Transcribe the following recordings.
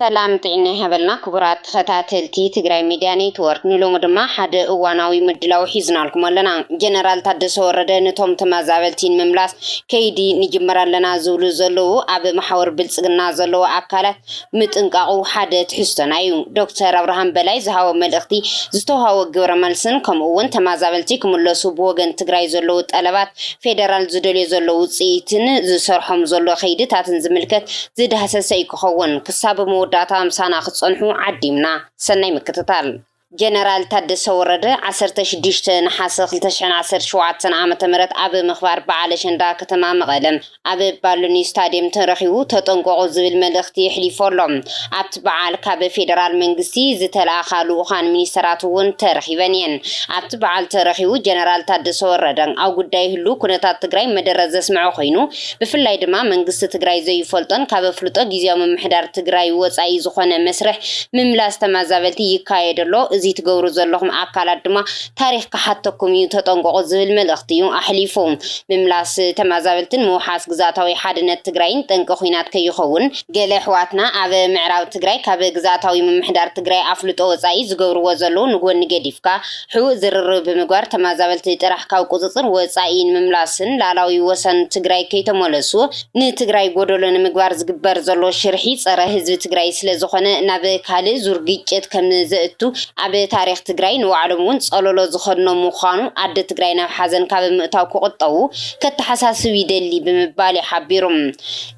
ሰላም ጥዒና ይሃበልና ክቡራት ተኸታተልቲ ትግራይ ሚድያ ኔትወርክ ንሎሚ ድማ ሓደ እዋናዊ ምድላው ሒዝናልኩም ኣለና። ጀነራል ታደሰ ወረደ ንቶም ተመዛበልቲ ንምምላስ ከይዲ ንጅምር ኣለና ዝብሉ ዘለዉ ኣብ መሓውር ብልፅግና ዘለዉ ኣካላት ምጥንቃቑ ሓደ ትሕዝቶና እዩ። ዶክተር ኣብርሃም በላይ ዝሃቦ መልእኽቲ፣ ዝተውሃቦ ግብረ መልስን ከምኡ እውን ተማዛበልቲ ክምለሱ ብወገን ትግራይ ዘለዉ ጠለባት፣ ፌደራል ዝደልዮ ዘሎ ውፅኢትን ዝሰርሖም ዘሎ ከይድታትን ዝምልከት ዝዳህሰሰ እዩ ክኸውን። ክሳብ መወዳእታ ምሳና ክትፀንሑ ዓዲምና። ሰናይ ምክትታል። ጀነራል ታደሰ ወረደ ዓሰርተ ሽዱሽተ ነሓሰ ክልተ ሽሕን ዓሰርተ ሸውዓተን ዓመተ ምህረት ኣብ ምኽባር በዓል ኣሸንዳ ከተማ መቐለ ኣብ ባሉኒ ስታድየም ተረኺቡ ተጠንቀቑ ዝብል መልእኽቲ የሕሊፉ ኣሎ። ኣብቲ በዓል ካብ ፌደራል መንግስቲ ዝተልኣኻ ልኡኻን ሚኒስተራት እውን ተረኺበን እየን። ኣብቲ በዓል ተረኺቡ ጀነራል ታደሰ ወረደ ኣብ ጉዳይ ህሉው ኩነታት ትግራይ መደረ ዘስመዐ ኮይኑ፣ ብፍላይ ድማ መንግስቲ ትግራይ ዘዩፈልጦን ካብ ኣፍልጦ ጊዚያዊ ምምሕዳር ትግራይ ወፃኢ ዝኾነ መስርሕ ምምላስ ተማዛበልቲ ይካየድ ኣሎ እዙይ ትገብሩ ዘለኹም ኣካላት ድማ ታሪኽ ክሓተኩም እዩ ተጠንቀቑ ዝብል መልእኽቲ እዩ ኣሕሊፉ ምምላስ ተማዛበልትን ምውሓስ ግዝኣታዊ ሓድነት ትግራይን ጠንቂ ኹናት ከይኸውን ገለ ኣሕዋትና ኣብ ምዕራብ ትግራይ ካብ ግዝኣታዊ ምምሕዳር ትግራይ ኣፍልጦ ወፃኢ ዝገብርዎ ዘለዉ ንጎኒ ገዲፍካ፣ ሕቡእ ዝርርብ ብምግባር ተመዛበልቲ ጥራሕ ካብ ቁፅፅር ወፃኢ ንምምላስን ልኣላዊ ወሰን ትግራይ ከይተመለሱ ንትግራይ ጎደሎ ንምግባር ዝግበር ዘሎ ሽርሒ ፀረ ህዝቢ ትግራይ ስለዝኾነ ናብ ካልእ ዙር ግጭት ከምዘእቱ ኣብ ታሪኽ ትግራይ ንባዕሎም እውን ፀሎሎ ዝኸድኖም ምዃኑ ኣደ ትግራይ ናብ ሓዘን ካብ ምእታው ክቑጠቡ ከተሓሳስብ ይደሊ ብምባል'ዩ ሓቢሩ።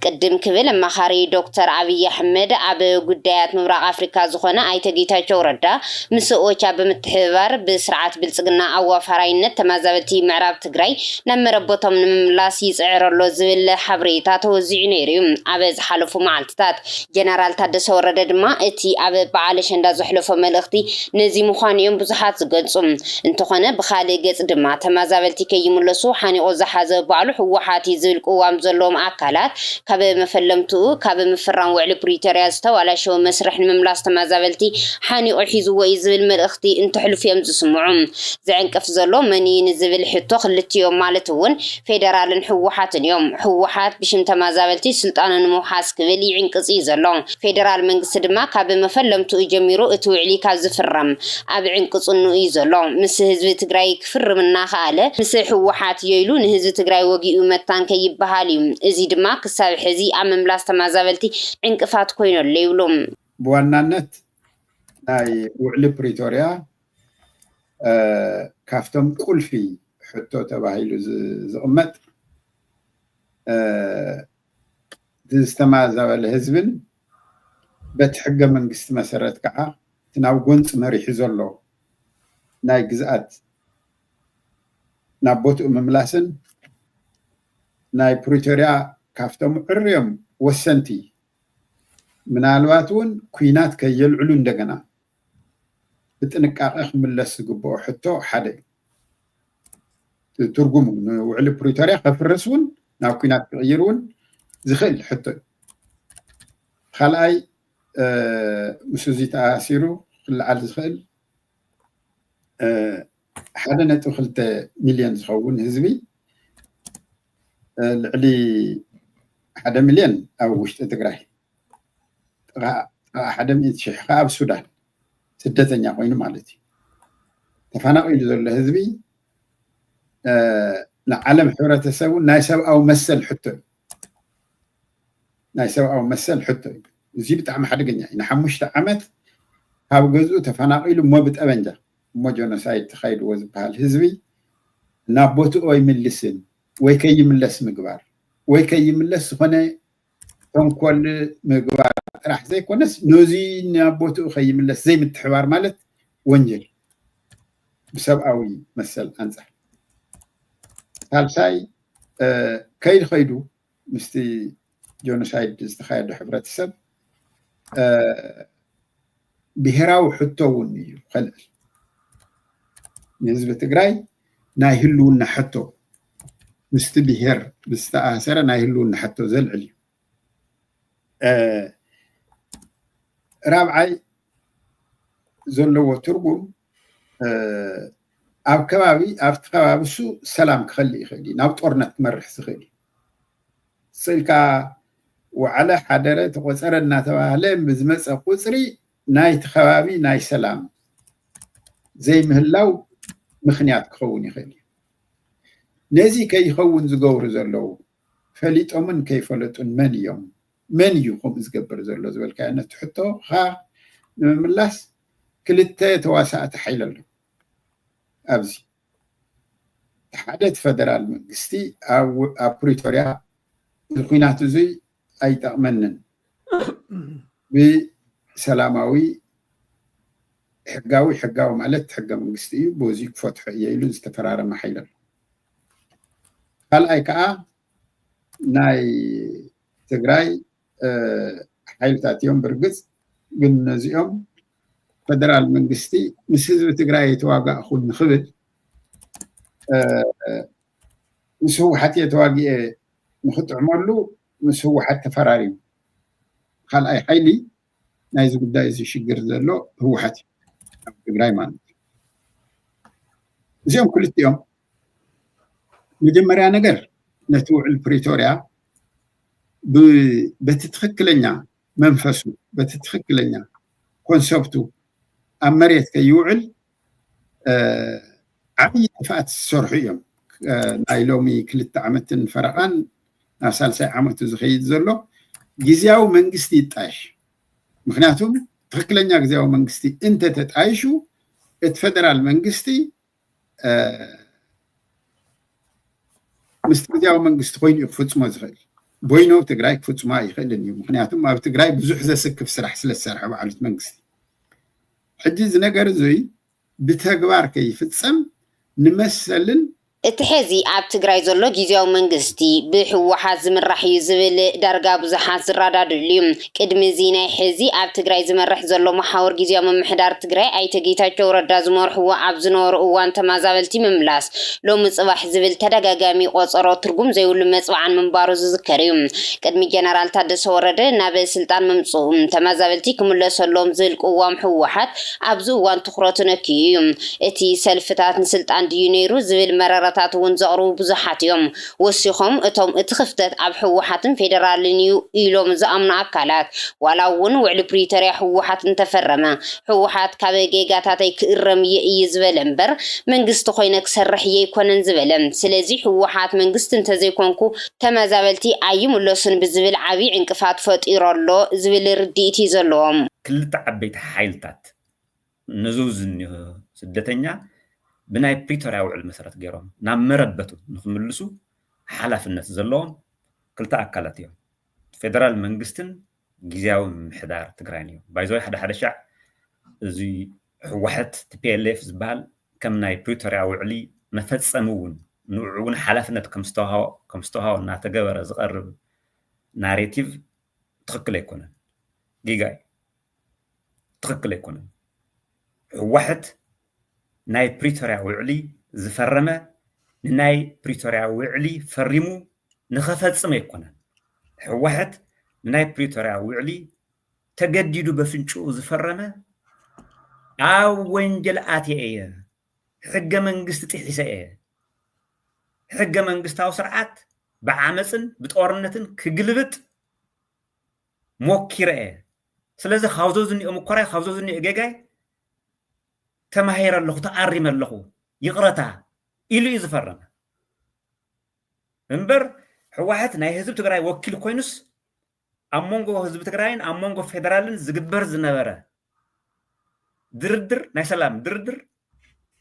ቅድም ክብል ኣማኻሪ ዶክተር ኣብይ ኣሕመድ ኣብ ጉዳያት ምብራቕ ኣፍሪካ ዝኾነ ኣይተ ጌታቸው ረዳ ምስ ኦቻ ብምትሕብባር ብስርዓት ብልፅግና ኣዋፋራይነት ተመዛበልቲ ምዕራብ ትግራይ ናብ መረበቶም ንምምላስ ይፅዕር ኣሎ ዝብል ሓብሬታ ተወዚዑ ነይሩ ዩ ኣብ ዝሓለፉ መዓልትታት። ጀነራል ታደሰ ወረደ ድማ እቲ ኣብ በዓል ኣሸንዳ ዘሕለፎ መልእኽቲ ነዚ ምዃኑ ዮም ብዙሓት ዝገልፁ። እንተኾነ ብኻሊእ ገፅ ድማ ተመዛበልቲ ከይምለሱ ሓኒቑ ዝሓዘ ባዕሉ ህወሓት ዩ ዝብል ቅዋም ዘለዎም ኣካላት ካብ መፈለምትኡ ካብ ምፍራም ውዕሊ ፕሪቶርያ ዝተባላሸወ መስርሕ ንምምላስ ተመዛበልቲ ሓኒቑ ሒዝዎ እዩ ዝብል መልእኽቲ እንተሕልፉ እዮም ዝስምዑ። ዝዕንቅፍ ዘሎ መን እዩ ንዝብል ሕቶ ክልቲኦም ማለት እውን ፌደራልን ህወሓትን እዮም። ህወሓት ብሽም ተመዛበልቲ ስልጣኑ ንምውሓስ ክብል ይዕንቅፅ እዩ ዘሎ። ፌደራል መንግስቲ ድማ ካብ መፈለምትኡ ጀሚሩ እቲ ውዕሊ ካብ ዝፍረም ኣብ ዕንቅፅንኡ እዩ ዘሎ። ምስ ህዝቢ ትግራይ ክፍርም እናኸኣለ ምስ ህወሓት እዮ ኢሉ ንህዝቢ ትግራይ ወጊኡ መታን ከይበሃል እዩ። እዙይ ድማ ክሳብ ሕዚ ኣብ ምምላስ ተመዛበልቲ ዕንቅፋት ኮይኑ ኣሎ ይብሉ። ብዋናነት ናይ ውዕሊ ፕሪቶርያ ካፍቶም ቁልፊ ሕቶ ተባሂሉ ዝቕመጥ ዝተማዛበለ ህዝብን በቲ ሕገ መንግስቲ መሰረት ከዓ እቲ ናብ ጎንፂ መሪሑ ዘሎ ናይ ግዝኣት ናብ ቦትኡ ምምላስን ናይ ፕሪቶርያ ካብቶም ዕርዮም ወሰንቲ ምናልባት እውን ኩናት ከየልዕሉ እንደገና ብጥንቃቐ ክምለስ ዝግበኦ ሕቶ ሓደ እዩ። ትርጉሙ ንውዕሊ ፕሪቶርያ ከፍርስ እውን ናብ ኩናት ክቕይር እውን ዝኽእል ሕቶ እዩ ካልኣይ ምስ እዚ ተኣሲሩ ክለዓል ዝኽእል ሓደ ነጥቢ ክልተ ሚልዮን ዝኸውን ህዝቢ ልዕሊ ሓደ ሚልዮን ኣብ ውሽጢ ትግራይ ጥቓ ሓደ ሚእቲ ሽሕ ከዓ ኣብ ሱዳን ስደተኛ ኮይኑ ማለት እዩ ተፈናቒሉ ዘሎ ህዝቢ ንዓለም ሕብረተሰብ እውን ናይ ሰብኣዊ መሰል ሕቶ እዩ ናይ ሰብኣዊ መሰል ሕቶ እዩ እዚ ብጣዕሚ ሓደገኛ እዩ ንሓሙሽተ ዓመት ካብ ገዝኡ ተፈናቒሉ እሞ ብጠበንጃ እሞ ጀኖሳይድ ተኻይድዎ ዝበሃል ህዝቢ ናብ ቦትኡ ኣይምልስን ወይ ከይምለስ ምግባር ወይ ከይምለስ ዝኾነ ተንኮል ምግባር ጥራሕ ዘይኮነስ ነዚ ናብ ቦትኡ ከይምለስ ዘይምትሕባር ማለት ወንጀል ብሰብኣዊ መሰል ኣንፃር ሳልሳይ ከይድ ከይዱ ምስቲ ጆኖሳይድ ዝተካየደ ሕብረተሰብ ብሄራዊ ሕቶ እውን እዩ ከልዕል ንህዝቢ ትግራይ ናይ ህልውና ሕቶ ምስቲ ብሄር ምስ ዝተኣሳሰረ ናይ ህልውና ሕቶ ዘልዕል እዩ። ራብዓይ ዘለዎ ትርጉም ኣብ ከባቢ ኣብቲ ከባቢ እሱ ሰላም ክኸልእ ይኽእል እዩ ናብ ጦርነት ክመርሕ ዝኽእል እዩ ስልካ ወዓለ ሓደረ ተቆፀረ እናተባህለ ብዝመፀ ቁፅሪ ናይቲ ከባቢ ናይ ሰላም ዘይምህላው ምኽንያት ክኸውን ይኽእል እዩ። ነዚ ከይኸውን ዝገብሩ ዘለዉ ፈሊጦምን ከይፈለጡን መን እዮም? መን እዩ ከምኡ ዝገብር ዘሎ ዝበልካዮ ነቲ ሕቶኻ ንምምላስ ክልተ ተዋሳእቲ ሓይሊ ኣለዉ ኣብዚ ሓደ እቲ ፈደራል መንግስቲ ኣብ ፕሪቶርያ እዚ ኩናት እዙይ ኣይጠቕመንን። ብሰላማዊ ሕጋዊ ሕጋዊ ማለት ሕገ መንግስቲ እዩ በዚ ክፈትሖ እየ ኢሉ ዝተፈራረመ ሓይሊ ኣሎ ካልኣይ ከዓ ናይ ትግራይ ሓይልታት እዮም ብርግፅ ግን ነዚኦም ፈደራል መንግስቲ ምስ ህዝቢ ትግራይ የተዋጋእኹ ንክብል ምስ ህወሓት እየ ተዋጊኤ ንኽጥዕመሉ ምስ ህወሓት ተፈራሪሙ ኻልኣይ ሓይሊ ናይዚ ጉዳይ እዚ ሽግር ዘሎ ህወሓት እዩ ኣብ ትግራይ ማለት እዩ እዚኦም ክልቲኦም መጀመርያ ነገር ነቲ ውዕል ፕሪቶርያ በቲ ትኽክለኛ መንፈሱ በቲ ትኽክለኛ ኮንሰፕቱ ኣብ መሬት ከይውዕል ዓብዪ ጥፍኣት ዝሰርሑ እዮም ናይ ሎሚ ክልተ ዓመትን ፈረቓን ናብ ሳልሳይ ዓመቱ ዝኸይድ ዘሎ ግዜያዊ መንግስቲ ይጣየሽ ምክንያቱም ትክክለኛ ግዜያዊ መንግስቲ እንተተጣይሹ እቲ ፈደራል መንግስቲ ምስ ግዜያዊ መንግስቲ ኮይኑ እዩ ክፍፅሞ ዝኽእል ቦይኖ ትግራይ ክፍፅሞ ኣይኽእልን እዩ ምክንያቱም ኣብ ትግራይ ብዙሕ ዘስክፍ ስራሕ ስለ ዝሰርሐ ባዕሉት መንግስቲ ሕጂ እዚ ነገር እዙይ ብተግባር ከይፍፀም ንመሰልን። እቲ ሐዚ ኣብ ትግራይ ዘሎ ጊዚያዊ መንግስቲ ብህወሓት ዝምራሕ እዩ ዝብል ዳርጋ ብዙሓት ዝራዳድእሉ እዩ። ቅድሚ እዚ ናይ ሕዚ ኣብ ትግራይ ዝመርሕ ዘሎ መሓውር ጊዚያዊ ምምሕዳር ትግራይ ኣይተ ጌታቸው ረዳ ዝመርሕዎ ኣብ ዝነበሩ እዋን ተማዛበልቲ ምምላስ፣ ሎሚ ጽባሕ ዝብል ተደጋጋሚ ቆጸሮ ትርጉም ዘይብሉ መጽብዓን ምንባሩ ዝዝከር እዩ። ቅድሚ ጀነራል ታደሰ ወረደ ናብ ስልጣን ምምጽኡ፣ ተመዛበልቲ ክምለሱ ኣለዎም ዝብል ቅዋም ህወሓት ኣብዚ እዋን ትኹረቱ ነክዩ እዩ። እቲ ሰልፍታት ንስልጣን ድዩ ነይሩ ዝብል መረረታት እውን ዘቕርቡ ብዙሓት እዮም። ወሲኾም እቶም እቲ ክፍተት ኣብ ህወሓትን ፌደራልን እዩ ኢሎም ዝኣምኑ ኣካላት ዋላ እውን ውዕሊ ፕሪቶርያ ህወሓት እንተፈረመ ህወሓት ካብ ጌጋታተይ ክእረም እየ እዩ ዝበለ እምበር መንግስቲ ኮይነ ክሰርሕ የይኮነን ዝበለ ስለዚ ህወሓት መንግስቲ እንተዘይኮንኩ ተመዛበልቲ ኣይምለሱን ብዝብል ዓብይ ዕንቅፋት ፈጢሩ ኣሎ ዝብል ርድኢት እዩ ዘለዎም። ክልተ ዓበይቲ ሓይልታት ነዙ ዝኒሆ ስደተኛ ብናይ ፕሪቶርያ ውዕል መሰረት ገይሮም ናብ መረበቱ ንክምልሱ ሓላፍነት ዘለዎም ክልተ ኣካላት እዮም። ፌደራል መንግስትን ግዜያዊ ምምሕዳር ትግራይን እዮም። ባይዘወይ ሓደ ሓደ ሻዕ እዚ ህወሓት ቲፒኤልኤፍ ዝበሃል ከም ናይ ፕሪቶርያ ውዕሊ መፈፀሚ እውን ንዑ እውን ሓላፍነት ከም ዝተውሃቦ እናተገበረ ዝቐርብ ናሬቲቭ ትኽክል ኣይኮነን፣ ጌጋ እዩ። ትኽክል ኣይኮነን። ህወሐት ናይ ፕሪቶርያ ውዕሊ ዝፈረመ ንናይ ፕሪቶርያ ውዕሊ ፈሪሙ ንኸፈፅም ኣይኮነን። ህወሐት ንናይ ፕሪቶርያ ውዕሊ ተገዲዱ በፍንጭኡ ዝፈረመ ኣብ ወንጀል ኣትየ እየ፣ ሕገ መንግስቲ ጥሒሰ እየ፣ ሕገ መንግስታዊ ስርዓት ብዓመፅን ብጦርነትን ክግልብጥ ሞኪረ እየ ስለዚ ካብ ዘዝኒኦ ምኮራይ ካብ ዘዝኒኦ ጌጋይ ተማሂረ ኣለኹ ተኣሪመ ኣለኹ ይቕረታ ኢሉ እዩ ዝፈረመ እምበር ሕዋሕት ናይ ህዝቢ ትግራይ ወኪል ኮይኑስ ኣብ መንጎ ህዝቢ ትግራይን ኣብ መንጎ ፌደራልን ዝግበር ዝነበረ ድርድር ናይ ሰላም ድርድር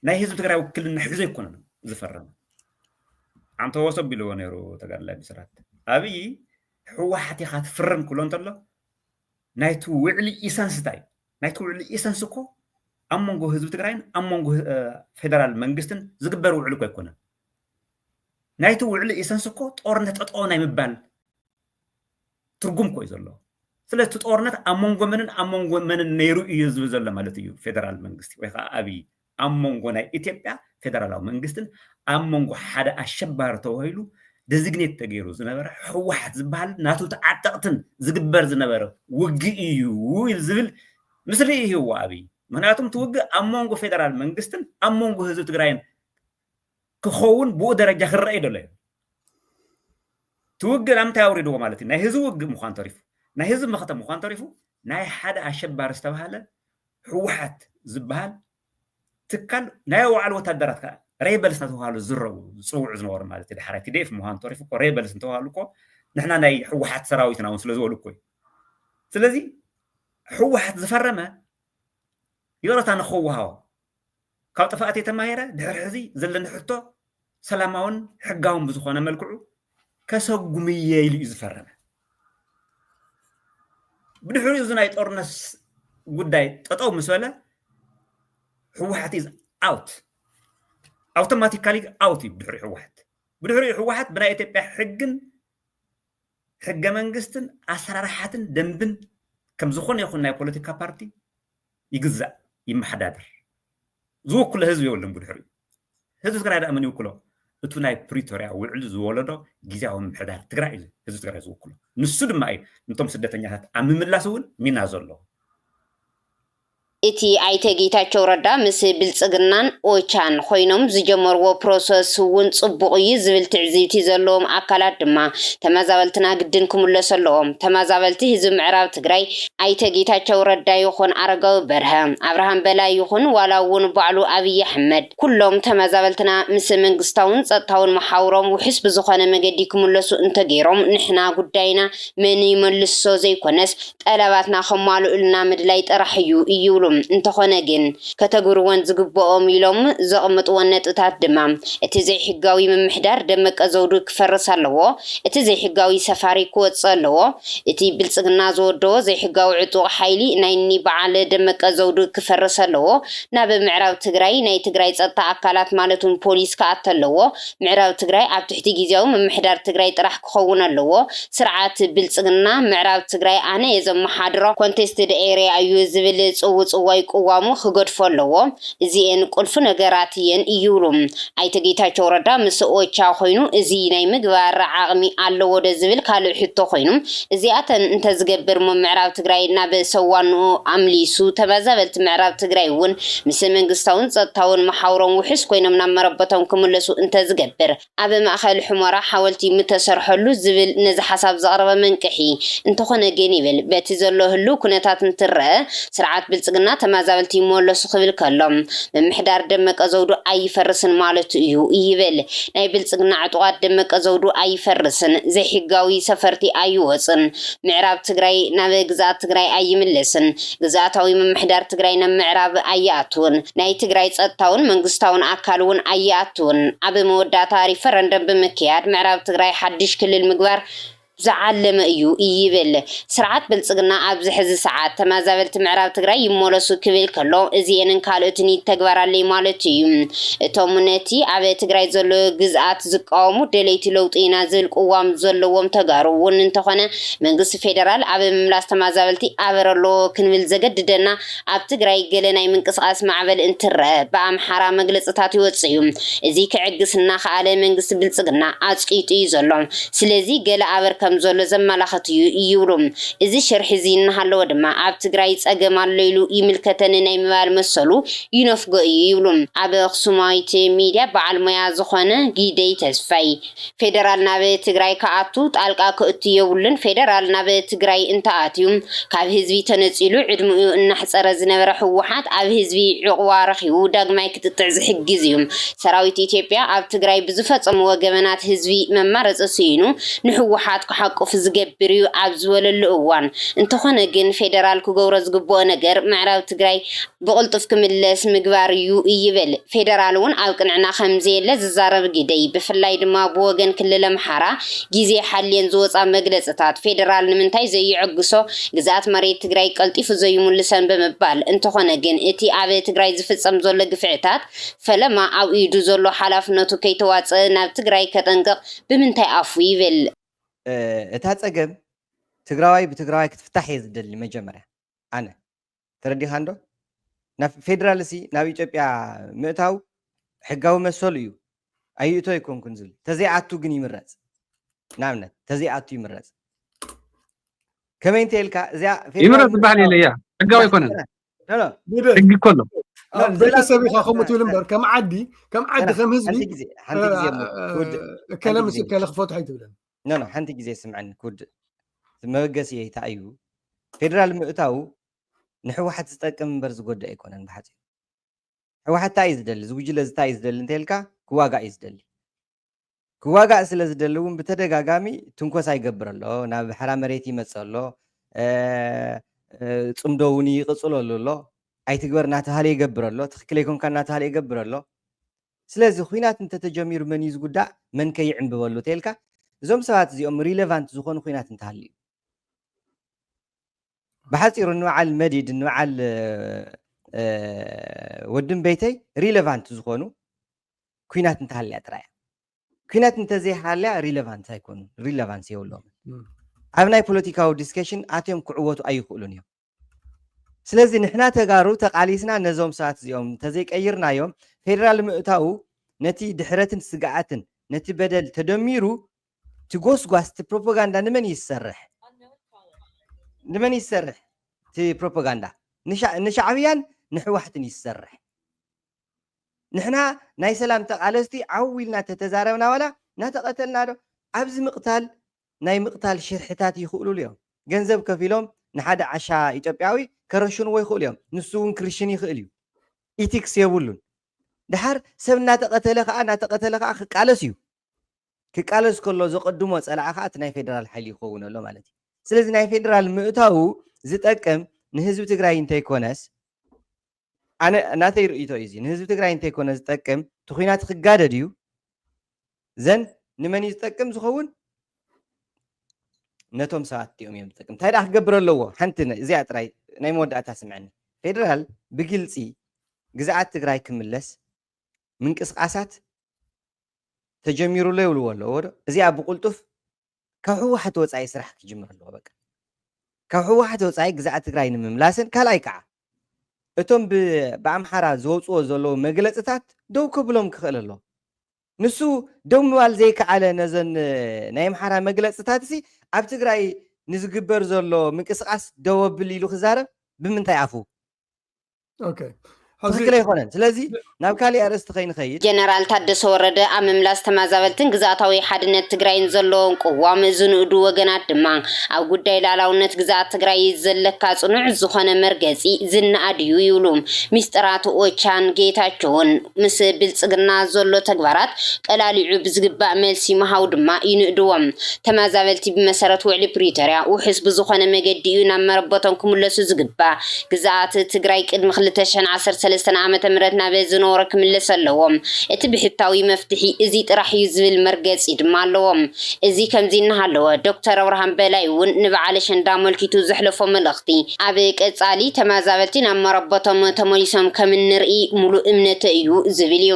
ናይ ህዝቢ ትግራይ ውክልና ሒዞ ኣይኮነን ዝፈረመ ኣንተወሰ ቢልዎ ነይሩ ተጋድላይ ብስራት ኣብይ ህወሓት ኢኻ ትፍርም ክብሎ እንተሎ ናይቲ ውዕሊ ኢሰንስ እንታይ እዩ? ናይቲ ውዕሊ ኢሰንስ እኮ ኣብ መንጎ ህዝቢ ትግራይን ኣብ መንጎ ፌደራል መንግስትን ዝግበር ውዕሊ እኮ ኣይኮነን። ናይቲ ውዕሊ ኢሰንስ እኮ ጦርነት ጠጠው ናይ ምባል ትርጉም እኮ እዩ ዘለዎ ስለ እቲ ጦርነት ኣብ መንጎ መንን ኣብ መንጎ መንን ነይሩ እዩ ዝብል ዘሎ ማለት እዩ ፌደራል መንግስቲ ወይ ከዓ ኣብይ ኣብ መንጎ ናይ እትዮጵያ ፌደራላዊ መንግስትን ኣብ መንጎ ሓደ ኣሸባሪ ተባሂሉ ደዚግኔት ተገይሩ ዝነበረ ህወሓት ዝበሃልን ናቱ ተዓጠቕትን ዝግበር ዝነበረ ውግእ እዩ ዝብል ምስሊ ይህዎ ኣብይ ምክንያቱም እቲ ውግእ ኣብ መንጎ ፌደራል መንግስትን ኣብ መንጎ ህዝቢ ትግራይን ክኸውን ብኡ ደረጃ ክረአ ይደሎ እዩ እቲ ውግእ ናብ ምንታይ ኣውሪድዎ ማለት እዩ ናይ ህዝቢ ውግእ ምዃን ተሪፉ ናይ ህዝቢ መኸተ ምዃን ተሪፉ ናይ ሓደ ኣሸባሪ ዝተባሃለ ህወሓት ዝበሃል ትካል ናይ ባዕሉ ወታደራት ከዓ ሬበልስ እናተባሃሉ ዝረቡ ዝፅውዑ ዝነበሩ ማለት እዩ ዳሕራይ ቲዲኤፍ ምዃን ተሪፉ እኮ ሬበልስ እንተባሃሉ እኮ ንሕና ናይ ህወሓት ሰራዊትና እውን ስለ ዝበሉ እኮ እዩ ስለዚ ህወሓት ዝፈረመ ይቕረታ ንክወሃቦ ካብ ጥፍኣተይ ተማሂረ ድሕሪ ሕዚ ዘለኒ ሕቶ ሰላማውን ሕጋውን ብዝኾነ መልክዑ ከሰጉምየ ኢሉ እዩ ዝፈረመ ብድሕሪኡ እዚ ናይ ጦርነት ጉዳይ ጠጠው ምስ በለ ህወሓት ኢዝ ኣውት ኣውቶማቲካሊ ኣውት እዩ ብድሕሪ ህወሓት ብድሕሪኡ ህወሓት ብናይ ኢትዮጵያ ሕግን ሕገ መንግስትን ኣሰራርሓትን ደንብን ከም ዝኾነ ይኹን ናይ ፖለቲካ ፓርቲ ይግዛእ ይመሓዳደር ዝውክሎ ህዝቢ የብሉን ብድሕሪኡ ህዝቢ ትግራይ ደኣ መን ይውክሎ እቱ ናይ ፕሪቶርያ ውዕል ዝወለዶ ግዜያዊ ምምሕዳር ትግራይ እዩ ህዝቢ ትግራይ ዝውክሎ ንሱ ድማ እዩ ንቶም ስደተኛታት ኣብ ምምላስ እውን ሚና ዘለዎ እቲ ኣይተ ጌታቸው ረዳ ምስ ብልፅግናን ኦቻን ኮይኖም ዝጀመርዎ ፕሮሰስ እውን ፅቡቕ እዩ ዝብል ትዕዝብቲ ዘለዎም ኣካላት ድማ ተመዛበልትና ግድን ክምለሱ ኣለዎም፣ ተመዛበልቲ ህዝቢ ምዕራብ ትግራይ ኣይተ ጌታቸው ረዳ ይኹን ኣረጋዊ በርሀ፣ ኣብርሃም በላይ ይኹን ዋላ እውን ባዕሉ ኣብይ ኣሕመድ፣ ኩሎም ተመዛበልትና ምስ መንግስታውን ፀጥታውን መሓውሮም ውሑስ ብዝኾነ መገዲ ክምለሱ እንተገይሮም ንሕና ጉዳይና መን ይመልሶ ዘይኮነስ ጠለባትና ከማልኡልና ምድላይ ጥራሕ እዩ ይብሉ። እንተኾነ ግን ከተግብርወን ዝግበኦም ኢሎም ዘቕምጥወን ነጥብታት ድማ እቲ ዘይሕጋዊ ምምሕዳር ደመቀ ዘውዱ ክፈርስ ኣለዎ፣ እቲ ዘይሕጋዊ ሰፋሪ ክወፅእ ኣለዎ፣ እቲ ብልጽግና ዝወደቦ ዘይሕጋዊ ዕጡቕ ሓይሊ ናይ እኒ በዓል ደመቀ ዘውዱ ክፈርስ ኣለዎ፣ ናብ ምዕራብ ትግራይ ናይ ትግራይ ፀጥታ ኣካላት ማለት ውን ፖሊስ ክኣቲ ኣለዎ፣ ምዕራብ ትግራይ ኣብ ትሕቲ ጊዚያዊ ምምሕዳር ትግራይ ጥራሕ ክኸውን ኣለዎ፣ ስርዓት ብልጽግና ምዕራብ ትግራይ ኣነ እየ ዘመሓድሮ፣ ኮንቴስትድ ኤርያ እዩ ዝብል ፅውፅዋይ ቅዋሙ ክገድፎ ኣለዎ፣ እዚኤን ቁልፊ ነገራት እየን እይብሉ። ኣይተ ጌታቸው ረዳ ምስ ኦቻ ኮይኑ እዙይ ናይ ምግባር ዓቕሚ ኣለዎ ዶ ዝብል ካልእ ሕቶ ኮይኑ እዚኣተን እንተዝገብር እሞ ምዕራብ ትግራይ ናብ ሰዋንኡ ኣምሊሱ ተመዛበልቲ ምዕራብ ትግራይ እውን ምስ መንግስታውን ፀጥታውን መሓውሮም ውሑስ ኮይኖም ናብ መረበቶም ክምለሱ እንተዝገብር ኣብ ማእኸል ሑመራ ሓወልቲ ምተሰርሐሉ ዝብል ነዚ ሓሳብ ዘቕረበ መንቅሒ። እንተኾነ ግን ይብል በቲ ዘሎ ህልው ኩነታት እንትረኣ ስርዓት ብልፅግና ተመዛበልቲ ይመለሱ ክብል ከሎ ምምሕዳር ደመቀ ዘውዱ ኣይፈርስን ማለቱ እዩ ይብል። ናይ ብልፅግና ዕጡቓት ደመቀ ዘውዱ ኣይፈርስን፣ ዘይሕጋዊ ሰፈርቲ ኣይወፅን፣ ምዕራብ ትግራይ ናብ ግዝኣት ትግራይ ኣይምለስን፣ ግዝኣታዊ ምምሕዳር ትግራይ ናብ ምዕራብ ኣይኣቱን፣ ናይ ትግራይ ፀጥታውን መንግስታውን ኣካል እውን ኣይኣቱን። ኣብ መወዳእታ ሪፈረንደም ብምክያድ ምዕራብ ትግራይ ሓዱሽ ክልል ምግባር ዝዓለመ እዩ ይብል። ስርዓት ብልፅግና ኣብዚ ሕዚ ሰዓት ተመዛበልቲ ምዕራብ ትግራይ ይመለሱ ክብል ከሎ እዚኤንን ካልኦትን ይተግበራለይ ማለቱ እዩ። እቶም ነቲ ኣብ ትግራይ ዘሎ ግዝኣት ዝቃወሙ ደለይቲ ለውጢ ኢና ዝብል ቅዋም ዘለዎም ተጋሩ እውን እንተኾነ መንግስቲ ፌደራል ኣብ ምምላስ ተማዛበልቲ ኣበር ኣሎ ክንብል ዘገድደና ኣብ ትግራይ ገለ ናይ ምንቅስቓስ ማዕበል እንትረእ ብኣምሓራ መግለፅታት ይወፅእ እዩ። እዚ ክዕግስ እናኸኣለ መንግስቲ ብልፅግና ኣፅቂጡ እዩ ዘሎ። ስለዚ ገለ ኣበር ከምዘሎ ዘመላኽት እዩ ይብሉ። እዚ ሽርሒ እዚ እናሃለወ ድማ ኣብ ትግራይ ፀገም ኣሎ ኢሉ ይምልከተኒ ናይ ምባል መሰሉ ይነፍጎ እዩ ይብሉ ኣብ ኣኽሱማዊት ሚድያ በዓል ሞያ ዝኾነ ጊደይ ተስፋይ። ፌደራል ናብ ትግራይ ክኣቱ ጣልቃ ክእቱ የብሉን ፌደራል ናብ ትግራይ እንተኣትዩ ካብ ህዝቢ ተነፂሉ ዕድምኡ እናሕፀረ ዝነበረ ህወሓት ኣብ ህዝቢ ዑቕባ ረኺቡ ዳግማይ ክጥጥዕ ዝሕግዝ እዩ ሰራዊት ኢትዮጵያ ኣብ ትግራይ ብዝፈፀምዎ ገበናት ህዝቢ መማረፂ ስኢኑ ንህወሓት ክሓቁፍ ዝገብር እዩ ኣብ ዝበለሉ እዋን እንተኾነ ግን ፌደራል ክገብሮ ዝግበኦ ነገር ምዕራብ ትግራይ ብቕልጡፍ ክምለስ ምግባር እዩ ይብል። ፌደራል እውን ኣብ ቅንዕና ከምዘየለ ዝዛረብ ግደይ፣ ብፍላይ ድማ ብወገን ክልል ኣምሓራ ግዜ ሓልየን ዝወፃ መግለፅታት፣ ፌደራል ንምንታይ ዘይዕግሶ፣ ግዝኣት መሬት ትግራይ ቀልጢፉ ዘይምልሰን ብምባል፣ እንተኾነ ግን እቲ ኣብ ትግራይ ዝፍፀም ዘሎ ግፍዕታት ፈለማ ኣብ ኢዱ ዘሎ ሓላፍነቱ ከይተዋፀእ ናብ ትግራይ ከጠንቅቕ ብምንታይ ኣፉ ይብል? እታ ፀገም ትግራዋይ ብትግራዋይ ክትፍታሕ እየ ዝደሊ መጀመርያ ኣነ። ተረዲኻ እንዶ ናብ ፌደራል ሲ ናብ ኢትዮጵያ ምእታው ሕጋዊ መሰሉ እዩ ኣይእቶ ኣይኮንኩን ዝብል ተዘይኣቱ ግን ይምረፅ ንኣብነት ተዘይኣቱ ይምረፅ ከመይ እንተ ኢልካ እዚኣ ይምረፅ ዝበሃል የለ እያ ሕጋዊ ኣይኮነን ሕጊ እኮ ኣሎ ቤተሰብ ኢኻ ከምኡ ትብል እምበር ከም ዓዲ ከም ዓዲ ከም ህዝቢ ከለ ምስ ከለ ክፈትሖ ኣይትብለን ኖኖ ሓንቲ ግዜ ስምዐኒ ክውድእ እቲ መበገሲ እይታይ እዩ ፌደራል ምእታዉ ንሕወሓት ዝጠቅም እምበር ዝጎድእ ኣይኮነን ብሓፂሩ ሕወሓት ታይ እዩ ዝደሊ ዝጉጅለ ዝታይ እዩ ዝደሊ እንተልካ ክዋጋእ እዩ ዝደሊ ክዋጋእ ስለ ዝደሊ እውን ብተደጋጋሚ ትንኮሳ ይገብር ኣሎ ናብ ሕራ መሬት ይመፅእ ኣሎ ፅምዶ እውን ይቕፅለሉ ኣሎ ኣይትግበር እናተባሃለ ይገብር ኣሎ ትክክል ኣይኮንካ እናተባሃለ ይገብር ኣሎ ስለዚ ኹናት እንተተጀሚሩ መን እዩ ዝጉዳእ መን ከ ይዕንብበሉ ተይልካ እዞም ሰባት እዚኦም ሪለቫንት ዝኾኑ ኹናት እንተሃልዩ ብሓፂሩ ንበዓል መዲድ ንበዓል ወድም ቤተይ ሪለቫንት ዝኾኑ ኲናት እንተሃልያ ጥራይ ኲናት እንተዘይሃልያ ሪለቫንት ኣይኮኑን ሪለቫንስ የብሎምን ኣብ ናይ ፖለቲካዊ ዲስከሽን ኣትዮም ክዕወቱ ኣይኽእሉን እዮም ስለዚ ንሕና ተጋሩ ተቓሊስና ነዞም ሰባት እዚኦም እንተዘይቀይርናዮም ፌደራል ምእታዉ ነቲ ድሕረትን ስግኣትን ነቲ በደል ተደሚሩ እቲ ጎስጓስ እቲ ፕሮፓጋንዳ ንመን እዩ ዝሰርሕ ንመን እዩ ዝሰርሕ እቲ ፕሮፓጋንዳ ንሻዕብያን ንሕዋሕትን እዩ ዝሰርሕ ንሕና ናይ ሰላም ተቓለስቲ ዓው ኢልና ተተዛረብና ዋላ እናተቐተልና ዶ ኣብዚ ምቕታል ናይ ምቕታል ሽርሕታት ይኽእሉሉ እዮም። ገንዘብ ከፊሎም ንሓደ ዓሻ ኢትዮጵያዊ ከረሽንዎ ይኽእሉ እዮም። ንሱ እውን ክርሽን ይኽእል እዩ። ኢቲክስ የብሉን። ደሓር ሰብ እናተቐተለ ከኣ እናተቐተለ ከኣ ክቃለስ እዩ። ክቃለስ ከሎ ዘቐድሞ ጸላኢ ከኣ እቲ ናይ ፌደራል ሓይሊ ይኸውን ኣሎ ማለት እዩ። ስለዚ ናይ ፌደራል ምእታዉ ዝጠቅም ንህዝቢ ትግራይ እንተይኮነስ፣ ኣነ ናተይ ርእይቶ እዩ እዚ ንህዝቢ ትግራይ እንተይኮነ ዝጠቅም እቲ ኩናት ክጋደድ እዩ ዘን ንመን እዩ ዝጠቅም ዝኸውን ነቶም ሰባት እቲኦም እዮም ዝጠቅም እንታይ ደኣ ክገብር ኣለዎ ሓንቲ እዚኣ ጥራይ ናይ መወዳእታ ስምዐኒ ፌደራል ብግልፂ ግዝኣት ትግራይ ክምለስ ምንቅስቃሳት ተጀሚሩሎ ይብልዎ ኣለዎ ዶ እዚኣ ብቁልጡፍ ካብ ህወሓት ወፃኢ ስራሕ ክጅምር ኣለዎ በቃ ካብ ህወሓት ወፃኢ ግዛኣት ትግራይ ንምምላስን ካልኣይ ከዓ እቶም ብኣምሓራ ዝወፅዎ ዘለዉ መግለፅታት ደው ክብሎም ክኽእል ኣለዎ ንሱ ደው ምባል ዘይከኣለ ነዘን ናይ ኣምሓራ መግለፅታት ሲ ኣብ ትግራይ ንዝግበር ዘሎ ምንቅስቃስ ደወ ብል ኢሉ ክዛረብ ብምንታይ ኣፉ ትክክል ኣይኮነን ስለዚ ናብ ካሊእ ኣርእስቲ ከይንኸይድ ጀነራል ታደሰ ወረደ ኣብ ምምላስ ተመዛበልትን ግዝኣታዊ ሓድነት ትግራይን ዘለዎም ቅዋም ዝንእዱ ወገናት ድማ ኣብ ጉዳይ ላዕላውነት ግዝኣት ትግራይ ዘለካ ፅኑዕ ዝኾነ መርገፂ ዝነኣድ እዩ ይብሉ። ሚስጥራት ኦቻን ጌታቸውን ምስ ብልጽግና ዘሎ ተግባራት ቀላሊዑ ብዝግባእ መልሲ ምሃቡ ድማ ይንእድዎ። ተመዛበልቲ ብመሰረት ውዕሊ ፕሪቶርያ ውሑስ ብዝኾነ መገዲ እዩ ናብ መረበቶም ክምለሱ ዝግባእ። ግዝኣት ትግራይ ቅድሚ ክልተ ሽሕን ዓሰርተ ሰለስተን ዓመተ ምህረት ናብ ዝነበሮ ክምለስ ኣለዎ። እቲ ብሕታዊ መፍትሒ እዚ ጥራሕ እዩ ዝብል መርገጺ ድማ ኣለዎም። እዚ ከምዚ እናሃለወ ዶክተር ኣብርሃም በላይ እውን ንበዓል ኣሸንዳ ኣመልኪቱ ዘሕለፎ መልእኽቲ ኣብ ቀፃሊ ተመዛበልቲ ናብ መረበቶም ተመሊሶም ከም እንርኢ ሙሉእ እምነተይ እዩ ዝብል እዩ።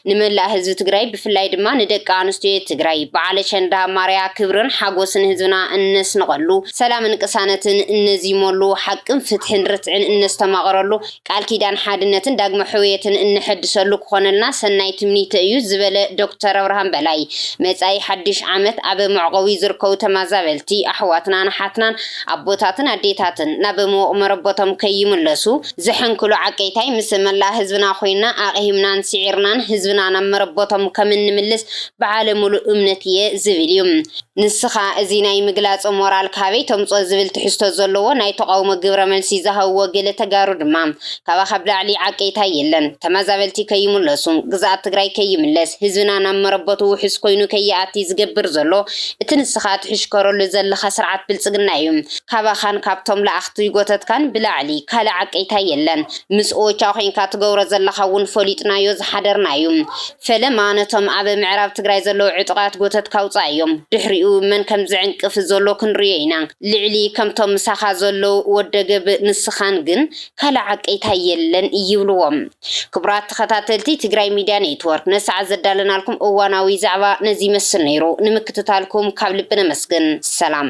ንመላእ ህዝቢ ትግራይ ብፍላይ ድማ ንደቂ ኣንስትዮ ትግራይ በዓል ኣሸንዳ ማርያ ክብርን ሓጎስን ህዝብና እነስንቐሉ፣ ሰላምን ቅሳነትን እነዚመሉ፣ ሓቅን ፍትሕን ርትዕን እነስተማቕረሉ፣ ቃል ኪዳን ሓድነትን ዳግመ ሕውየትን እነሐድሰሉ ክኾነልና ሰናይ ትምኒተይ እዩ ዝበለ ዶክተር ኣብርሃም በላይ፣ መፃኢ ሓዱሽ ዓመት ኣብ መዕቖቢ ዝርከቡ ተመዛበልቲ ኣሕዋትናን ኣሓትናን ኣቦታትን ኣዴታትን ናብ ምውቕ መረበቶም ከይምለሱ ዝሕንክሉ ዓቀይታይ ምስ መላእ ህዝብና ኮይንና ኣቕሂምናን ስዒርናን ህዝብና ናብ መረበቶም ከምእንምልስ በዓለ ምሉእ እምነት እየ ዝብል እዩ። ንስኻ እዚ ናይ ምግላጽ ሞራል ካበይ ተምጽኦ ዝብል ትሕዝቶ ዘለዎ ናይ ተቓውሞ ግብረ መልሲ ዝሃብዎ ገለ ተጋሩ ድማ ካባኻ ብላዕሊ ዓቀይታይ የለን፣ ተመዛበልቲ ከይምለሱ፣ ግዝኣት ትግራይ ከይምለስ፣ ህዝብና ናብ መረበቱ ውሑስ ኮይኑ ከይኣቲ ዝገብር ዘሎ እቲ ንስኻ ትሕሽከረሉ ዘለኻ ስርዓት ብልጽግና እዩ። ካባኻን ካብቶም ለኣኽቲ ጎተትካን ብላዕሊ ካልእ ዓቀይታይ የለን። ምስ ኦቻ ኮይንካ ትገብሮ ዘለኻ እውን ፈሊጥናዮ ዝሓደርና እዩ። ፈለማ ነቶም ኣብ ምዕራብ ትግራይ ዘለዉ ዕጡቓት ጎተት ካውጻእ እዮም ድሕሪኡ መን ከም ዝዕንቅፍ ዘሎ ክንርእዮ ኢና ልዕሊ ከምቶም ምሳኻ ዘለዉ ወደገብ ንስኻን ግን ካልእ ዓቀይታይ የለን ይብልዎም ክቡራት ተኸታተልቲ ትግራይ ሚድያ ኔትወርክ ነሰዓት ዘዳለናልኩም እዋናዊ ዛዕባ ነዚ ይመስል ነይሩ ንምክትታልኩም ካብ ልቢ ነመስግን ሰላም።